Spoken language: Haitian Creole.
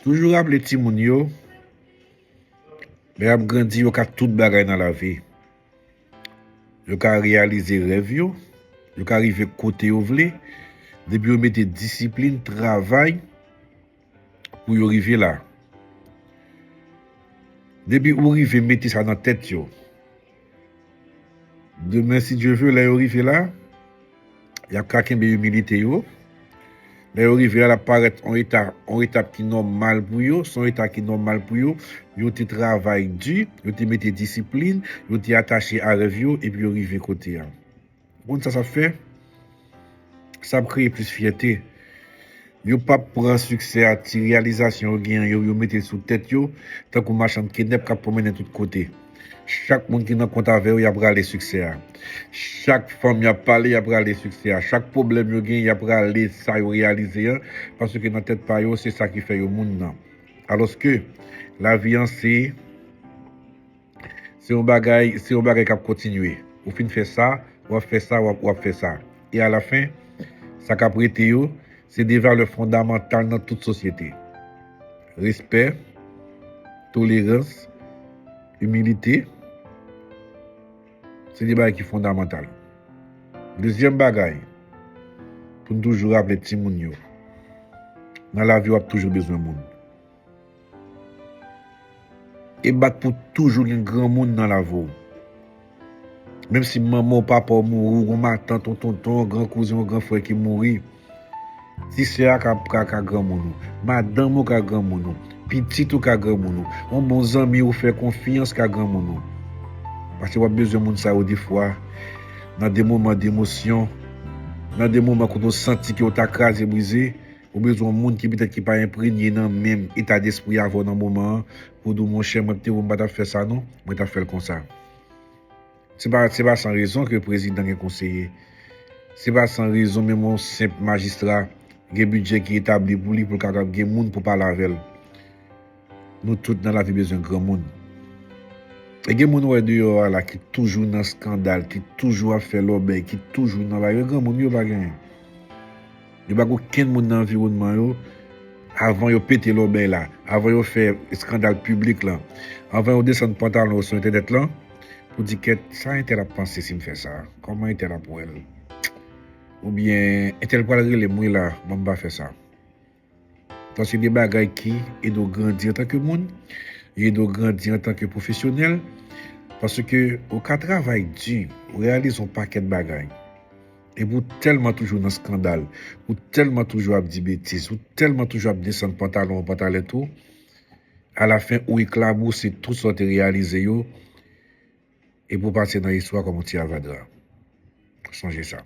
Toujou raple timoun yo, lè y ap grandi yo ka tout bagay nan lavi. Yo ka reyalize rèv yo, yo ka rive kote yo vle, depi yo mete disiplin, travay. pou yo rive la. Depi ou rive mete sa nan tèt yo, demen si Dye ve lè yo rive la, y ap ka kenbe imilite yo, lè yo rive la, l ap parèt yon eta, yon etap ki nòmal pou yo, s on eta ki nòmal pou yo, yo te travay di, yo te mete disiplin, yo te atache a rèv yo epi yo rive kote a. Moun sa sa fè, sa ap kreye plis fyète. Yo pap pran siksè a ti reyalizasyon yo genyen yo, yo mete sou tèt yo, tankou machann kenèp k ap pwomennen tout kote. Chak moun ki nan kont avè yo, y ap rale siksè a. Chak fanm y ap pale, y ap rale siksè a. Chak pwoblèm yo genyen, y ap rale sa yo reyalize an, paske nan tèt pa yo, se sa ki fè yo moun nan. Alòske, lavi an se. Se yon bagay, se yon bagay k ap kontinye. Ou fin fè sa, w ap fè sa, w ap, w ap fè sa. E alafen, sa k ap rete yo, se de valè fondamantal nan tout sosyete. Respè, tolerans, imilite, se de bagay ki fondamantal. Dezyèm bagay, pou n toujou raple timoun yo, nan lavi w ap toujou bezwen moun. E bat pou toujou gen granmoun nan lavi w. Menm si manman w, papa w mouri, ou gen yon matant, yon tonton, yon gran kouzen, yon gran frè ki mouri, ti sè a ka granmoun ou, madanm ou ka granmoun ou, pitit ou ka granmoun ou, yon bon zanmi ou fè konfyans ka granmoun ou. Pase w ap bezwen moun sa yo defwa nan de moman demosyon, nan de moman kote w santi ke w ta kraze brize. Ou bezwen yon moun ki petèt ki pa enpremye nan menm eta despri avè w nan moman an pou w di w monchè mwen pte wè w m pa t ap fè sa non, mwen t ap fè l konsa. Se pa se pa san rezon ke prezidan gen konseye. Se pa san rezon menm yon senp majistra gen bidjè ki etabli pou li pou l kapab gen moun pou pale avè l. Nou tout nan lavi bezwen granmoun. E gen moun ou wè deyò a la ki toujou nan skandal, ki toujou ap fè lòbèy, ki toujou nan lari. Granmoun yo pa gen. Yo pa gen okenn moun nan anviwònman yo avan yo pete lòbèy la, avan yo fè skandal piblik lan, avan yo desann pantalon yo sou entènèt lan pou di kèt sa entèl ap panse si m fè sa? Kòman entèl ap wè l? Oubyen entèl pral rele m wi la, ban m pa fè sa. Sa se 2 bagay ki ede w grandi antan ke moun, yo ede w grandi antan ke pwofesyonèl, paske ou ka travay di, ou reyalize yon pakèt bagay, epi ou tèlman toujou nan skandal, ou tèlman toujou ap di betiz, ou tèlman toujou ap desann pantalon ou, pantalèt ou, alafen ou eklabousi tout sa w te reyalize yo, epi ou pase nan istwa kòm yon ti avadra. Sonje sa.